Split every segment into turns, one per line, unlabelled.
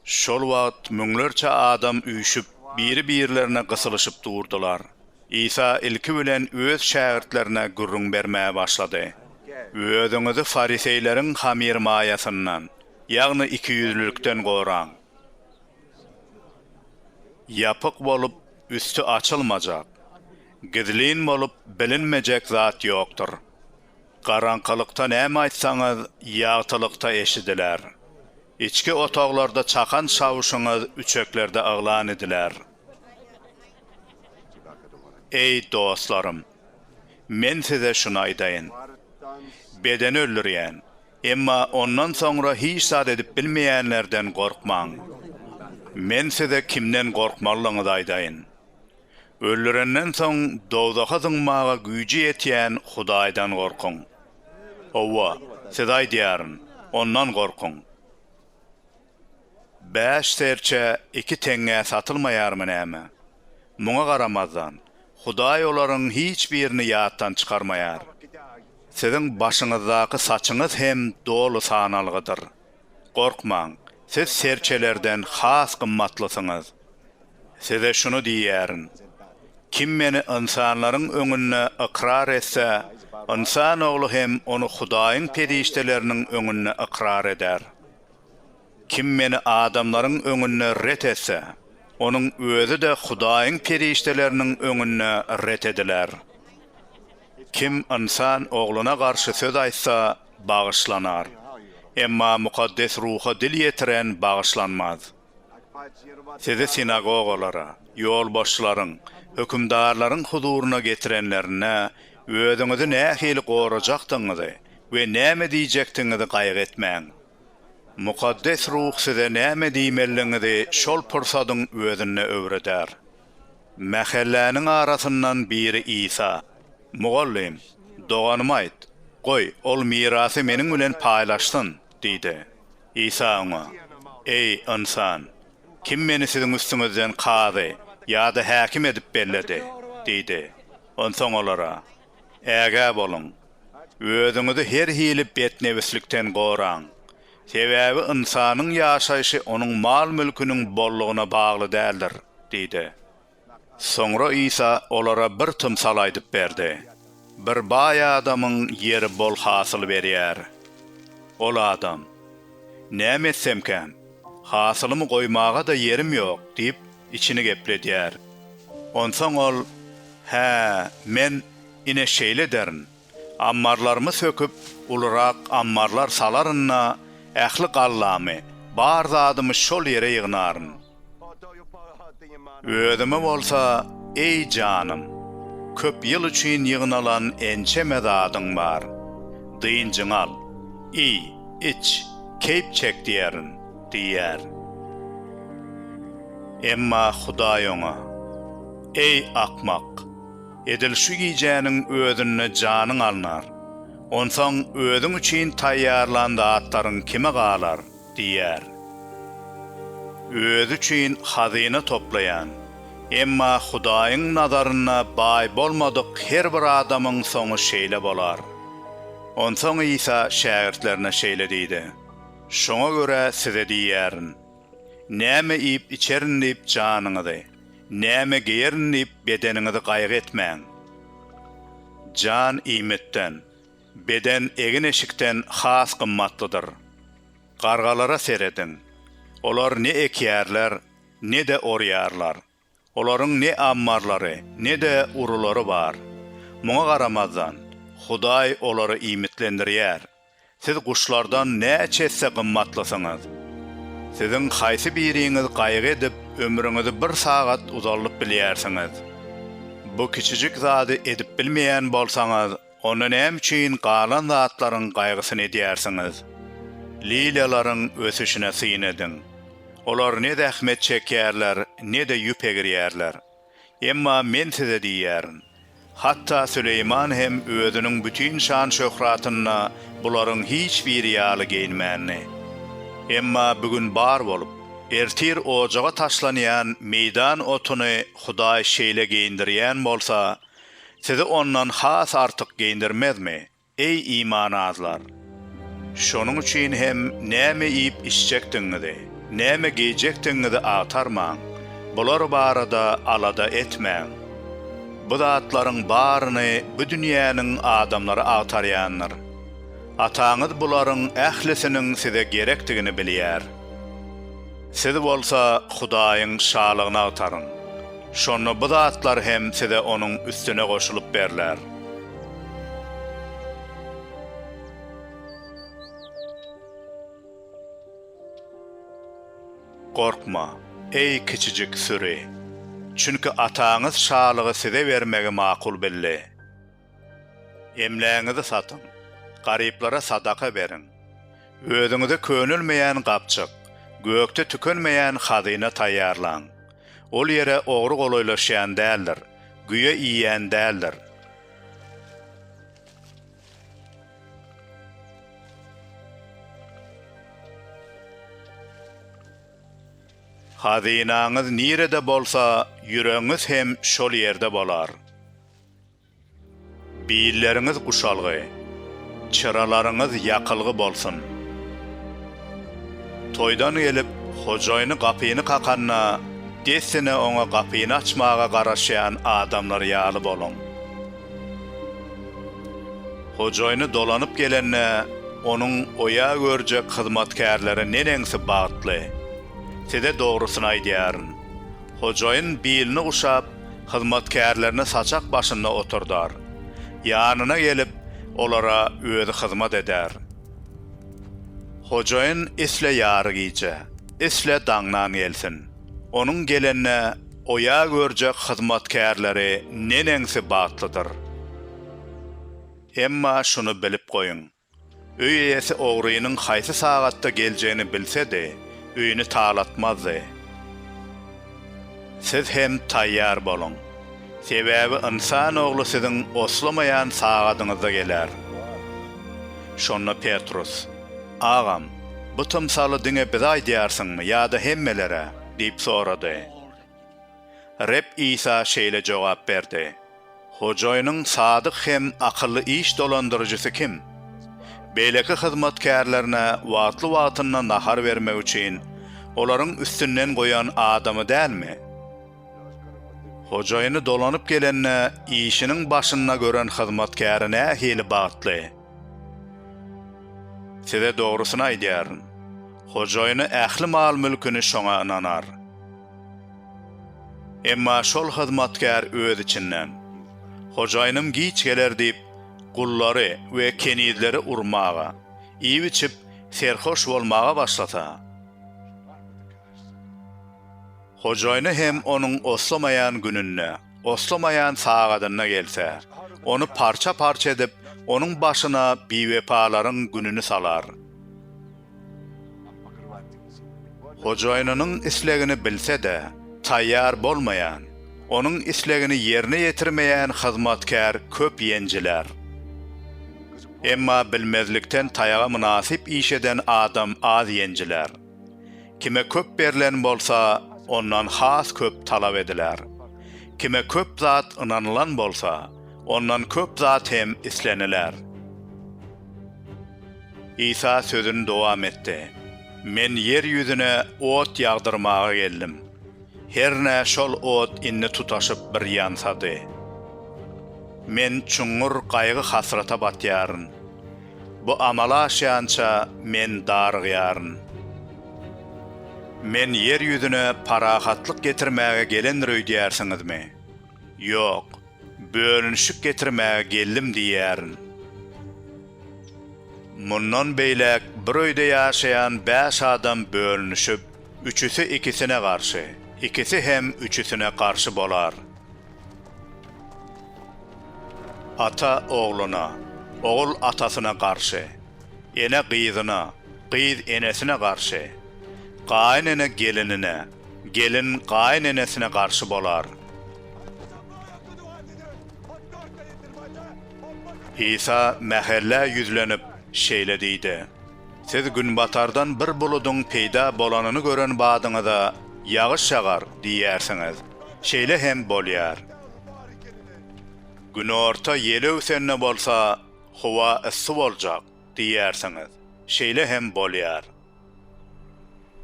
Şol wagt müňlerçe adam üýşüp, biri-birlerine gysylyşyp durdular. Isa ilki bilen öz şägirtlerine gürrüň bermäge başlady, Özüňizi fariseýleriň hamyrmaýasyndan, ýagny ikiýüzlülikden goraň. Ýapyk bolup, üsti açylmajak, gizlin bolup bilinmejek zat ýokdur. Garaňkylykda näme aýtsaňyz, ýagtylykda eşidiler. Içki otaglarda çakan çawuşyňyz üçeklerde yglan ediler. Eý, dostlarym! Men size şuny aýdaýyn. Bedeni öldürýän, emma ondan soňra hiç zat edip bilmeýänlerden gorkmaň. Men size kimden gorkmalydygyňyzy aýdaýyn. Öldürenden soň dowzaha zyňmaga güýji ýetýän Hudaýdan gorkuň. Hawa, size aýdýaryn, Ondan gorkuň. Bäş serçe iki teňňä satylmaýarmy näme? Muňa garamazdan, Hudaý olaryň hiç birini ýatdan çykarmaýar. Siziň başyňyzdaky saçyňyz hem doly sanalgydyr. Gorkmaň, siz serçelerden has gymmatlysyňyz. Size şuny diýýärin, Kim Meni ynsanlaryň öňünde ykrar etse, Ynsan Ogly hem ony Hudaýyň perişdeleriniň öňünde ykrar eder. Kim Meni adamlaryň öňünde ret etse, onuň özi-de Hudaýyň perişdeleriniň öňünde ret ediler. Kim Ynsan Ogluna garşy söz aýtsa, bagyşlanar, emma Mukaddes Ruha dil ýetiren bagyşlanmaz. Sizi sinagogalara, ýolbaşçylaryň, hökümdarlaryň huzuryna getirenlerinde, özüňizi nähili gorajakdygyňyzy we näme diýjekdigiňizi gaýgy etmäň. Mukaddes Ruh size näme diýmelidigiňizi şol pursadyň özünde öwreder. Mähelläniň arasyndan biri Isa, Mugallym, doganyma aýt, goý, ol mirasy meniň bilen paýlaşsyn! diýdi. Isa oňa, Eý, ynsan, kim meni siziň üstüňizden kazy ýa-da häkim edip belledi? diýdi. Onsoň olara, Ägä boluň! Özüňizi her hili betnebislikden goraň! Sebäbi ynsanyň ýaşaýşy onuň mal-mülküniň bollugyna bagly däldir diýdi. Soňra Isa olara bir tymsal aýdyp berdi. Bir baý adamyň ýeri bol hasyl berýär. Ol adam, Näme etsemkäm? Hasylymy goýmaga-da ýerim ýok diýip, Içini gepledýär. Onsoň ol, Hä, men, ine, şeýle ederin. Ammarlarymy söküp, ulurak ammarlar salaryn-da, ähli gallamy, bar zadymy şol ýere ýygnaryn. Özüme bolsa, Eý, janym, köp ýyl üçin ýygnalan ençeme zadyň bar. Dynjyňy al. Iý, iç, keýp çek diýerin. diýýär. Emma Hudaý oňa, Eý, akmak! Edil şu gijäniň özünde janyň alnar. Onsoň özüň üçin taýýarlan zatlaryň kime galar? diýýär. Özi üçin hazyna toplaýan, emma Hudaýyň nazarynda baý bolmadyk her bir adamyň soňy şeýle bolar. Onsoň Isa şägirtlerine şeýle diýdi. Şoňa görä size diýýärin, Näme iýip-içerin diýip janyňyzy, näme geýerin diýip bedeniňizi gaýgy etmäň. Jan iýmitden, beden egin-eşikden has gymmatlydyr. Gargalara serediň. Olar ne ekýärler, ne-de orýarlar. Olaryň ne ammarlary, ne-de urulary bar. Muňa garamazdan, Hudaý olary iýmitlendirýär. Siz guşlardan näçe esse gymmatlysyňyz! Siziň haýsy biriňiz gaýgy edip, ömrüňizi bir sagat uzaldyp bilýärsiňiz? Bu kiçijik zady edip bilmeýän bolsaňyz, Onda näme üçin galan zatlaryň gaýgysyny edýärsiňiz? Liliýalaryň ösüşine syn ediň. Olar ne zähmet çekýärler, ne-de ýüp egirýärler. Emma Men size diýýärin, hatda Süleýman hem özüniň bütin şan-şöhratynda bularyň hiç biri ýaly geýinmändi. Emma bu gün bar bolup, ertir ojaga taşlanýan meýdan otuny Hudaý şeýle geýindirýän bolsa, Sizi ondan has artyk geýindirmezmi, eý, iman azlar? Şonuň üçin hem näme iýip-içjekdigiňizi, näme geýjekdigiňizi agtarmaň, bular barada alada etmäň. Bu zatlaryň baryny bu dünýäniň adamlary agtarýandyr. Ataňyz bularyň ählisiniň size gerekdigini bilýär. Siz bolsa Hudaýyň Şalygyny agtaryň. Şonda bu zatlar hem size onuň üstüne goşulyp berler. Gorkma, eý, kiçijik süri! Çünki Ataňyz Şalygy size bermegi makul bildi. Emlägiňizi satyň, garyplara sadaka beriň. Özüňize könelmeýän gapjyk, gökde tükenmeýän hazyna taýýarlaň. Ol ýere ogry golaýlaşýan däldir, güýe iýýän däldir. Hazynaňyz nirede bolsa, ýüregiňiz hem şol ýerde bolar. Billeriňiz guşalgy, çyralaryňyz ýakylgy bolsun! Toýdan gelip, hojaýyny gapyny kakanda, dessine oňa gapyny açmaga garaşýan adamlar ýaly boluň. Hojaýyny dolanyp gelende, onuň oýa görjek hyzmatkärleri neneňsi bagtly! Size dogrusyny aýdýaryn, hojaýyn bilini guşap, hyzmatkärlerini saçak başynda oturdar, ýanyna gelip, olara özi hyzmat eder. Hojaýyn isle ýary gije, isle daňdan gelsin, onuň gelende oýa görjek hyzmatkärleri neneňsi bagtlydyr! Emma şuny bilip goýuň, Öý eýesi ogrynyň haýsy sagatda geljegini bilse-de, öýüni talatmazdy. Siz hem taýýar boluň. Sebäbi Ynsan Ogly siziň oslamaýan sagadyňyzda geler. Şonda Petrus, Agam, bu tymsaly diňe bize aýdýarsyňmy ýa-da hemmelere? diýip sorady. Reb Isa şeýle jogap berdi, Hojaýynyň sadyk hem akylly iş dolandyryjysy kim? Beýleki hyzmatkärlerine wagtly-wagtynda nahar bermek üçin olaryň üstünden goýan adamy dälmi? Hojaýyny dolanyp gelende, işiniň başynda gören hyzmatkäri nähili bagtly! Size dogrusyny aýdýaryn, hojaýyny ähli mal-mülküni şoňa ynanar. Emma şol hyzmatkär öz içinden, Hojaýynym giç geler diýip, gullary we kenizleri urmaga, iýip-içip, serhoş bolmaga başlasa, hojaýyny hem onuň oslamaýan gününde, oslamaýan sagadyna gelse, ony parça-parça edip, onuň başyna biwepalaryň gününi salar. Hojaýynynyň islegini bilse-de, taýýar bolmaýan, onuň islegini ýerine ýetirmeýän hyzmatkär köp ýenjiler. Emma bilmezlikden taýaga mynasyp iş eden adam az ýenjiler. Kime köp berlen bolsa, ondan has köp talap ediler. Kime köp zat ynanylan bolsa, ondan köp zat hem isleniler. Isa sözüni dowam etdi, Men ýer ýüzüne ot ýagdyrmaga geldim. Hernä şol ot indi tutaşyp bir ýansady. Men çuňňur gaýgy-hasrata batýaryn. Bu amala aşýança Men darygýaryn. Men ýer ýüzüne parahatlyk getirmäge gelendir öýdýärsiňizmi? Ýok, bölünişik getirmäge geldim diýýärin. Mundan beýläk bir öýde ýaşaýan bäş adam bölünişip, üçüsi ikisine garşy, ikisi hem üçüsine garşy bolar. Ata ogluna, ogul atasyna garşy, ene gyzyna, gyz enesine garşy, gaýynene gelinine, gelin gaýynenesine garşy bolar. Isa mähellä ýüzlenip, şeýle diýdi. Siz günbatardan bir buludyň peýda bolanyny gören badyňyza, Ýagyş ýagar! diýýärsiňiz. Şeýle hem bolýar. Günorta ýel öwsende bolsa, Howa yssy boljak! diýýärsiňiz. Şeýle hem bolýar.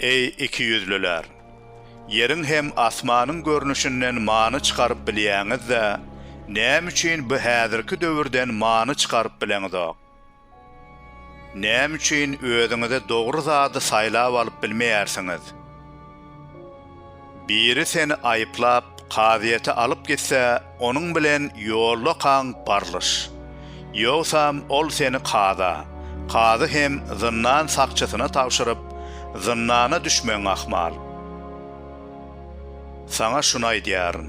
Eý, ikiýüzlüler! Ýeriň hem asmanyň görnüşinden many çykaryp bilýäňiz-de, näme üçin bu häzirki döwürden many çykaryp bileňizok? Näme üçin özüňize dogry zady saýlap alyp bilmeýärsiňiz? Biri seni aýyplap, kazyýete alyp gitse, onuň bilen ýoldakaň barlyş. Ýogsam, ol seni kaza, kazy hem zyndan sakçysyna tabşyryp, zyndana düşmegiň ahmal. Saňa şuny aýdýaryn.